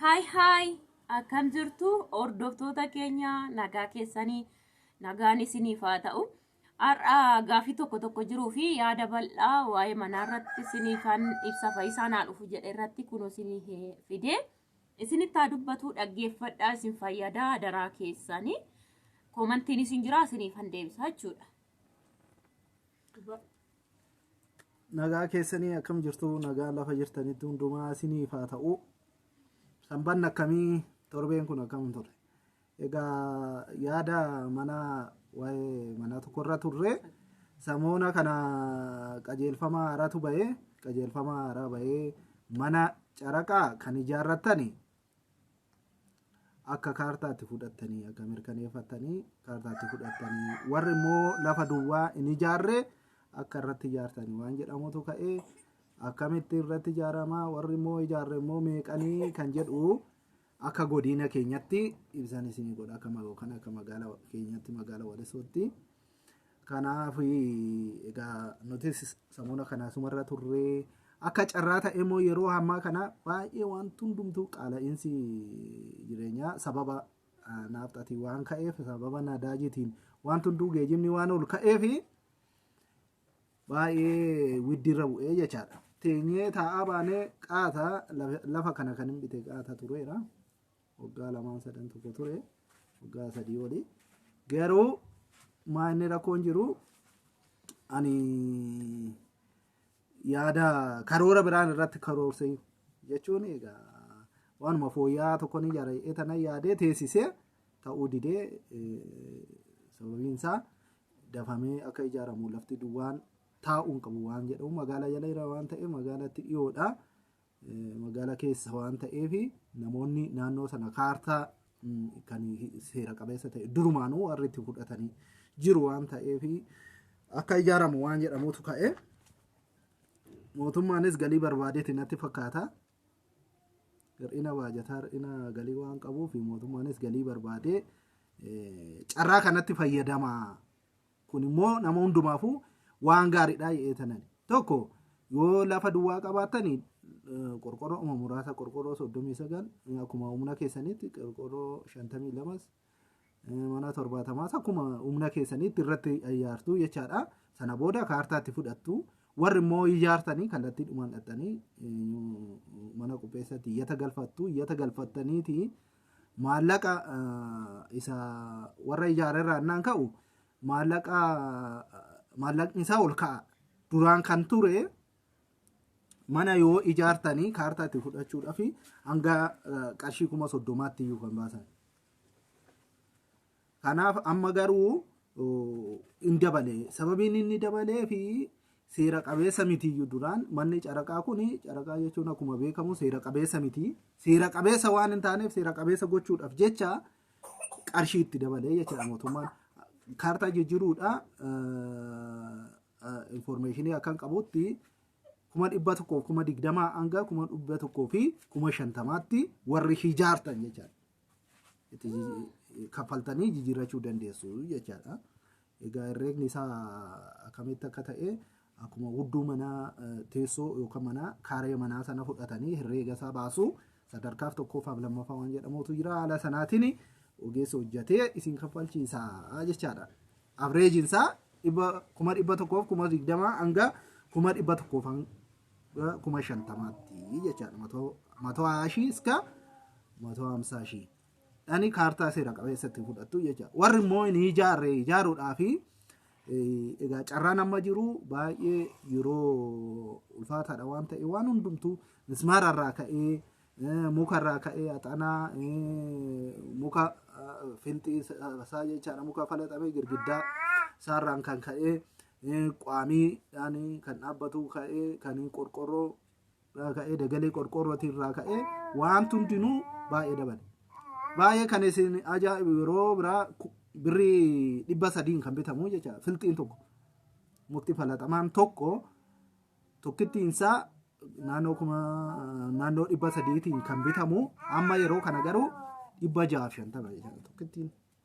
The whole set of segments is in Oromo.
Haay haay akkam jirtu hordoftoota keenya nagaa keessanii nagaan isiniif haa ta'u. Har'a gaaffii tokko tokko jiruu fi yaada bal'aa waa'ee manaa irratti isiniif kan ibsa fayyisaa naa dhufu jedhe irratti kun isiniif fide. Isinitti haa dubbatu dhaggeeffadhaa isin fayyadaa daraa keessanii. Koomantiin isin jira isiniif han deebisa jechuudha. nagaa keessanii akkam jirtu nagaa lafa jirtanitti hundumaa isiniif haa ta'u sanbanni akkamii torbeen kun akkam ture egaa yaada mana waa'ee manaa tokkorra turre samoona kana qajeelfama haaraatu bahee qajeelfama haaraa bahee mana caraqaa kan ijaarrattani akka kaartaatti fudhattanii akka mirkaneeffattanii kaartaatti fudhattanii warri immoo lafa duwwaa hin ijaarre akka irratti ijaartanii waan jedhamutu ka'ee akkamitti irratti ijaaramaa warri immoo ijaarre immoo meeqanii kan jedhu akka godina keenyatti ibsan isinii godha akka magoo kana akka magaala keenyatti magaala walisootti Kanaaf egaa nutis samuuna kana sumarra turree akka carraa ta'e immoo yeroo ammaa kana baay'ee wanti hundumtuu qaala'insi jireenyaa sababa naafxatiin waan ka'eef sababa nadaajitiin wanti hunduu geejibni waan ol ka'eef baay'ee widdirra bu'ee jechaadha. Teenyee taa'aa baanee qaata lafa kana kan hin bite qaata tureera. waggaa lamaan sadan tokko ture waggaa sadii oli garuu maa inni rakkoon jiru ani yaada karoora biraan irratti karoorsee jechuun egaa waanuma fooyya'aa tokko ni jara etana yaadee teessisee ta'uu didee eh, sababiin isaa dafamee akka ijaaramu lafti duwwaan taa'uun qabu waan jedhamu magaalaa jala jira waan ta'eef magaalatti dhiyoodha. Magaala keessa waan ta'eef namoonni naannoo sana kaartaa kan seera qabeessa ta'e durumaanuu warri itti fudhatanii jiru waan ta'eef akka ijaaramu waan jedhamutu ka'e. Mootummaanis galii barbaadeeti natti fakkaata. Hir'ina baajataa hir'ina galii waan qabuuf mootummaanis galii barbaadee carraa kanatti fayyadama Kun immoo nama hundumaafuu waan gaariidha jedhee tanan. Tokko yoo lafa duwwaa qabaattani qorqorroo uma muraasa qorqorroo 39 akkuma humna keessanitti qorqorroo 52s mana 70s akkuma humna keessanitti irratti ijaartu jechaadha. Sana booda kaartaatti fudhattu. Warri immoo ijaartanii kallattii dhumaan dhaxxanii mana qopheessatti iyyata galfattu. Iyyata galfattaniiti maallaqa isa warra ijaare irraa innaan ka'u maallaqa maallaqni isaa ol ka'a. Duraan kan ture mana yoo ijaartanii kaartaa itti fudhachuudhaaf hanga qarshii kuma soddomaatti iyyuu kan baasan. Kanaaf amma garuu hin dabale. Sababiin inni dabalee fi seera qabeessa mitiyyuu duraan manni caraqaa kun caraqaa jechuun akkuma beekamu seera qabeessa miti. Seera qabeessa waan hin taaneef seera qabeessa gochuudhaaf jecha qarshii itti dabalee jechuudha mootummaan. Kaartaa jijjiiruudha infoormeeshinii akkan qabutti kuma dhibba tokkoof kuma digdamaa hanga kuma dhibba tokkoo fi kuma shantamaatti warri ijaartan jechuudha. itti jiji- kaffaltanii jijjiirrachuu dandeessu jechaadha. Egaa herreegni isaa akkamitti akka ta'e akkuma hudduu manaa eh, teessoo yookaan manaa kaaree manaa sana fudhatanii herreega isaa baasu sadarkaaf tokkoffaa fi lammaffaa waan jedhamutu jira haala sanaatiin ogeessi hojjetee isin kaffalchiisa jechaadha. Avreejiin isaa dhibba- kuma dhibba tokkoof kuma digdamaa hanga kuma dhibba tokkoof hanga kuma shantamaatti jechaadha matoo matoo haashii iska matoo hamsaa shii dhani kaartaa seera qabeessatti fudhattu jecha warri immoo hin ijaarre ijaaruudhaa fi egaa carraan amma jiru baay'ee yeroo ulfaataadha waan ta'e waan hundumtuu mismaara irraa ka'ee eh, muka irraa ka'ee axanaa eh, muka eh, filxii isaa jechaadha muka falaxamee girgiddaa isaarraan kan ka'ee Quamiidhaan kan dhaabbatu ka'ee kan qorqorroo irraa ka'ee dagalee qorqorrootii irraa ka'ee waanti hundinuu baay'ee dabale. Baay'ee kan isin ajaa'ibu yeroo biraa ku- birrii dhibba sadiin kan bitamu jecha filxiin tokko mukti falaxamaan tokko tokkittiin isaa naannoo kuma naannoo dhibba sadiitiin kan bitamu amma yeroo kana garuu dhibba jahaaf shantama jecha tokkittiin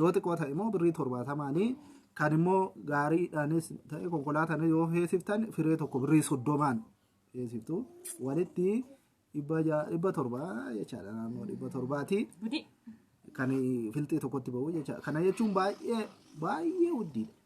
Yoo xiqqoo ta'e immoo birrii torbaatamaanii kan immoo gaariidhaanis ta'e konkolaataan yoo feesiftan firee tokko birrii soddomaan feesiftu walitti dhibba torba jechaadha naannoo dhibba torbaati. Kan filxii tokkotti ba'u jechaadha. Kana jechuun baay'ee baay'ee guddiidha.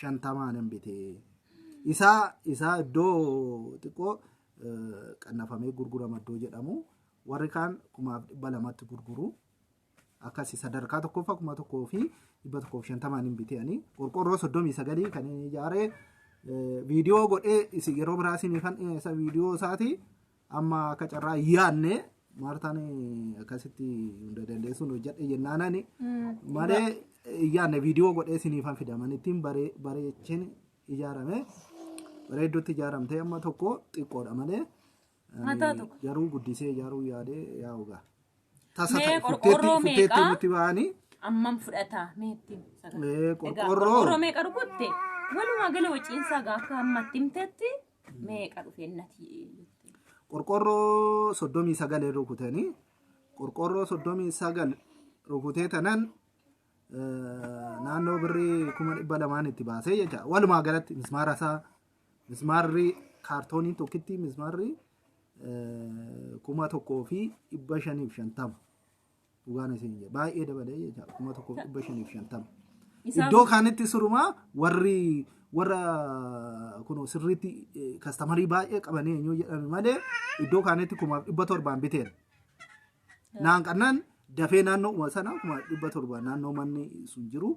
shantamaa nan bite. Isaa isaa iddoo xiqqoo eh, qannafamee gurgurama iddoo jedhamu warri kaan kumaaf dhibba lamatti gurguru. Akkasi sadarkaa tokkoffaa kuma tokkoo fi dhibba tokkoof shantamaan hin biteani. Qorqorroo soddomii sagalii kan inni ijaare eh, viidiyoo godhee isin yeroo biraa isin ifan dhiyeessa viidiyoo isaati. Amma akka carraa hin yaadne Maartaan akkasitti hunda dandeessuun hojjedhe jennaanani malee hin yaadne viidiyoo godhee siniifan fidaman ittiin baree- bareechin ijaarame bareedduutti ijaaramtee amma tokko xiqqoodha malee ani Haa taatu. garuu guddisee ijaaruu yaadee yaa ogaa. Tasa Mee ta'e qorqorroo futteetti meeqa? futteetti nutti ba'anii Ammam fudhata meetti? Ee, qorqorroo. Qorqorroo meeqa rukutte? Walumaa gala waciinsaa gaafa ammatti himtetti Meeqa dhufee nati jettee. qorqorroo soddomii sagalee rukutanii qorqorroo soddomii sagal rukutee tanan eh, naannoo birrii kuma dhibba lamaan itti baasee jecha walumaa galatti mismaara isaa mismaarri kaartoonii tokkitti mismaarri eh, kuma tokkoo fi dhibba shaniif shantama Dhugaan isin jedha. Baay'ee dabalee jecha kuma tokkoof dhibba shaniif shantama. Isaa- Iddoo kaanitti sirumaa warri warra kun sirriitti eh, kastamarii baay'ee qabanii eenyu jedhame malee iddoo kaanitti kuma dhibba torbaan biteen. Naan qannaan dafee naannoo sana kuma dhibba torbaan naannoo manni sun jiru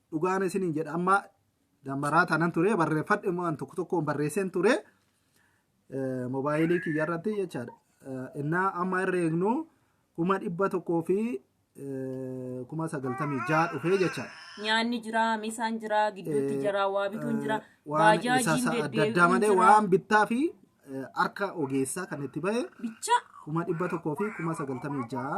dhugaan isiniin jedha amma dammaraa tanan ture barreeffadhe immoo an tokko tokkoon barreesseen ture eh, moobaayilii kiyya irratti jechaadha. Eh, Innaa amma irra eegnu kuma dhibba tokkoo fi eh, kuma sagaltamii ja'a dhufee jechaadha. Nyaanni jira, misaan jira, gidduutti Eh, jira, waa bituun jira, eh, waan isa baajaajiin sa'a adda addaa deddeebi'uun malee jira. waan bittaa fi eh, harka ogeessaa kan itti ba'e Bicha kuma dhibba tokkoo fi kuma sagaltamii ja'a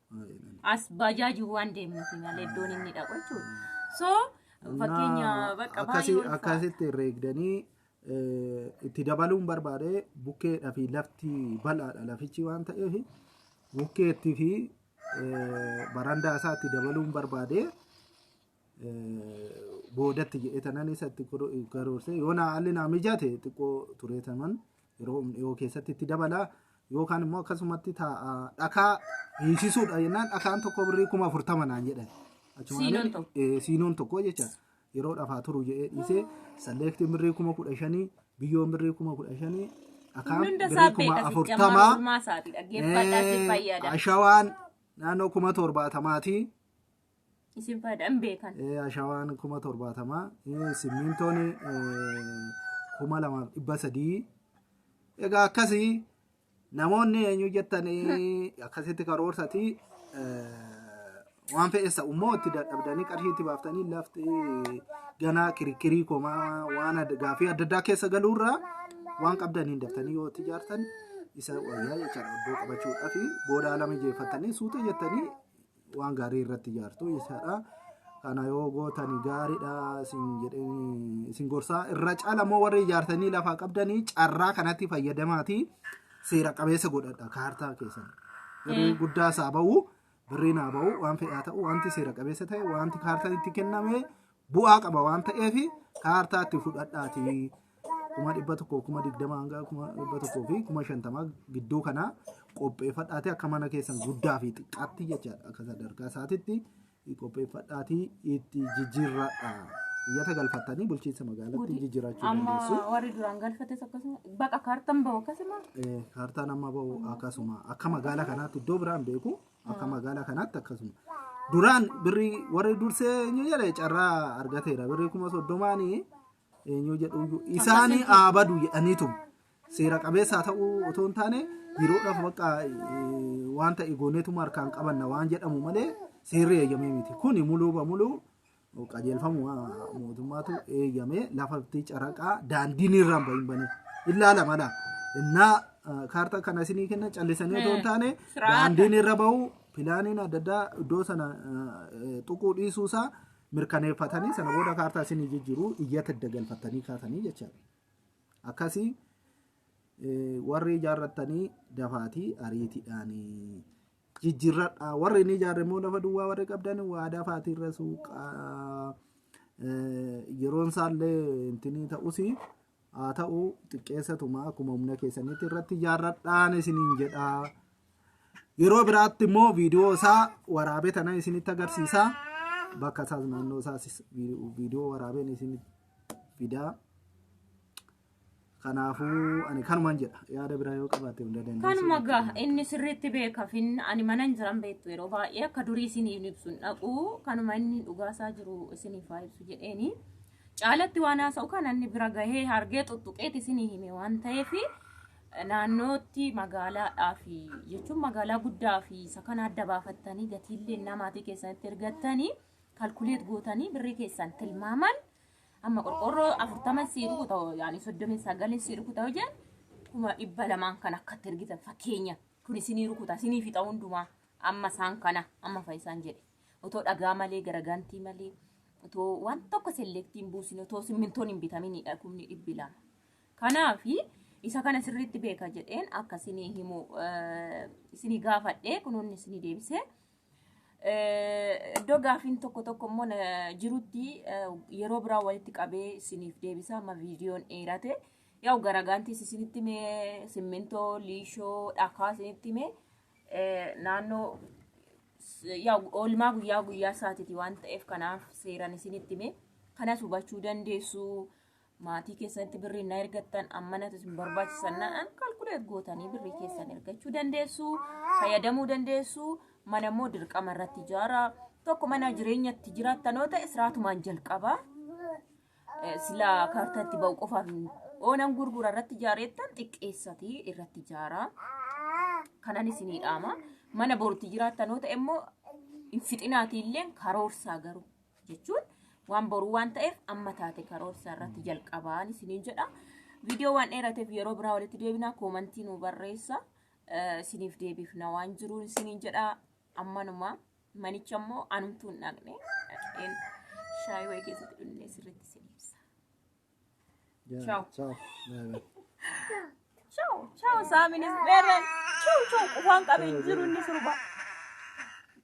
as baajaajii waan deemnuuf malee iddoon inni dhaqu jechuudha. So fakkeenya bakka baay'ee ulfaata. akkasitti reegdanii eh, itti dabaluun barbaade bukkeedhaa fi lafti bal'aadha lafichi waan ta'eef bukkeetti fi eh, barandaa isaa itti dabaluun barbaade boodatti jedhee tanan isa itti karoorsee yoo naa haalli naa mijaate xiqqoo turee tanan yeroo dhiyoo keessatti itti dabala yookaan immoo akkasumatti taa'a dhakaa hiisisuudha jennaan dhakaan tokko birrii kuma afurtama naan jedhan. Siinoon tokko. Eh, Siinoon tokko jecha yeroo dhafaa turu jedhee dhiisee salleektiin birrii kuma kudha shanii biyyoon birrii kuma kudha shanii dhakaan Hundi birrii isaa kuma beekasi afurtama. jamaa ormaa isaati dhaggeeffadhaa si fayyada. Ashawaan naannoo kuma torbaatamaati. Isin faayidaan beekan. Eh, ashawaan kuma torbaatama eh, simmiintoon eh, kuma lamaaf dhibba sadii egaa akkasii namoonni eenyu jettan eh, akkasitti karoorsati eh, waan fe'essa ummoo itti dadhabdanii qarshii itti baaftanii lafti ganaa kirikkirii komaa waan adda- gaaffii adda addaa keessa galuurraa waan qabdaniin daftanii yoo itti ijaartan isa wayyaa jechaadha iddoo qabachuudhaaf booda ala mijeeffattanii suuta jettanii waan gaarii irratti ijaartu jechaadha. Kana yoo gootan gaariidha isin jedhee isin gorsaa irra caala immoo warri ijaartanii lafaa qabdanii carraa kanatti fayyadamaatii seera qabeessa godhadha kaartaa keessan. Birrii guddaa isaa ba'u birriin haa ba'u waan fedhaa ta'u wanti seera qabeessa ta'e wanti kaartaan itti kenname bu'aa qaba waan ta'eef kaartaa itti fudhadhaati kuma dhibba tokko kuma digdama hanga kuma dhibba tokkoo fi kuma shantama gidduu kana qopheeffadhaati akka mana keessan guddaa fi xiqqaatti jechaadha akka sadarkaa isaatitti qopheeffadhaati itti jijjiirradha. Iyyata galfattanii bulchiinsa magaalatti jijjiirachuu Amma dandeessu. warri duraan galfates akkasuma baqa kaartan bahu akkasuma Eh, Kaartaan amma bahu akkasuma akka magaalaa kanaatti iddoo biraan beeku Akka magaalaa kanaatti akkasuma. Duraan birrii warri dursee eenyu jedhe carraa argateera. Birrii kuma soddomaanii eenyu jedhu iyyuu isaanii aabadu jedhaniitu seera qabeessaa ta'uu otoo hin taane yeroodhaaf bakka wanta eegooneetuma harkaan qabanna waan jedhamu malee seerri eeyyamee miti. Kuni muluu bamuluu qajeelfamuma mootummaatu eeyyame lafatti caraqaa daandiin irraa hin bahin bane ilaala mala innaa eh, kaartaa kana isinii kenna callisanii otoo hin taane Siraata. daandiin irra bahu pilaaniin adda addaa iddoo sana eh, tuquu dhiisuu isaa mirkaneeffatanii sana booda kaartaa isinii jijjiiruu iyyata adda galfattanii kaatanii jechaadha akkasii eh, warri ijaarrattanii dafaatii ariitiidhaanii jijjirradha warri inni ijaarre immoo lafa duwwaa warri qabdan waadaa faatiirra suuqa yeroon isaallee intinii ta'usi haa ta'u xiqqeessatuma akkuma humna keessanitti irratti ijaarradhaan isiniin jedha yeroo biraatti immoo viidiyoo isaa waraabee tana isinitti agarsiisa bakka isaas naannoo isaas viidiyoo waraabeen isinitti fidaa. Kanaafuu ani kanuman jedha. Yaada biraa yoo qabaatte hunda dandeessu. Kanuma gaa inni sirriitti beeka fin ani mana hin jiran beektu yeroo baay'ee akka durii isiniif hin ibsu hin dhaqu kanuma inni dhugaasaa jiru isiniif haa ibsu jedheeni. Caalatti waan haasa'u kana inni bira gahee hargee xuxxuqeeti isinii hime waan ta'eef naannootti magaalaadhaa fi jechuun magaalaa guddaa fi isa kana adda baafattanii gatiillee namaatii keessanitti ergattanii kalkuleet gootanii birrii keessan tilmaaman Amma qorqorroo afurtama sii rukuta hoo yaani soddomii sagalin sii rukuta hoo jedhan kuma dhibba lamaan kan akkatti ergitan fakkeenya kun isinii rukuta isinii fixa hundumaa amma isaan kana amma fayyisaan jedhe otoo dhagaa malee garagantii malee otoo waan tokko selektiin buusin otoo simmintoon hin bitaminidha kumni dhibbi lama. Kanaaf isa kana sirriitti beeka jedheen akka isinii himu eh, isinii gaafadhee kunoonni isinii deebisee Eh, Iddoo gaafiin tokko tokko immoo na- jirutti eh, yeroo biraa walitti qabee isiniif deebisaa amma viidiyoon dheerate yaa'u garagaantis isinitti mee simmintoo liishoo dhakaa isinitti mee eh, naannoo s- yaa'u oolmaa guyyaa guyyaa isaatiiti waan ta'eef kanaaf seeran isinitti mee kanas hubachuu dandeessu maatii keessanitti birrii na ergattan ammanatu isin barbaachisan na'an kalkuleet gootanii birrii keessan ergachuu dandeessu fayyadamuu dandeessu mana immoo dirqama irratti ijaara tokko mana jireenyatti jiraattan yoo ta'e siraatumaan jalqaba Eh, sila kaartatti ba'u qofaaf hin- oonan gurgura irratti ijaareettan xiqqeessati irratti ijaara kanan isinii dhaama mana borutti jiraattan yoo ta'e immoo hin fixinaatiilleen karoorsaa garuu jechuun waan boruu waan ta'eef amma taate karoorsa irratti jalqabaan isiniin jedha. Viidiyoo waan dheerateef yeroo biraa walitti deebinaa koomantii nu barreessa eh, isiniif deebifna waan jiruun isiniin jedha ammanuma manicha immoo anumtuun dhaqne dhaqeen shaayii wayii keessatti dhunnee sirriitti isin ibsa. Ciao. Ciao. Bye bye. Ciao, ciao Saaminis Beerreen. Ciao, ciao qufaan qabee jiru inni sirba.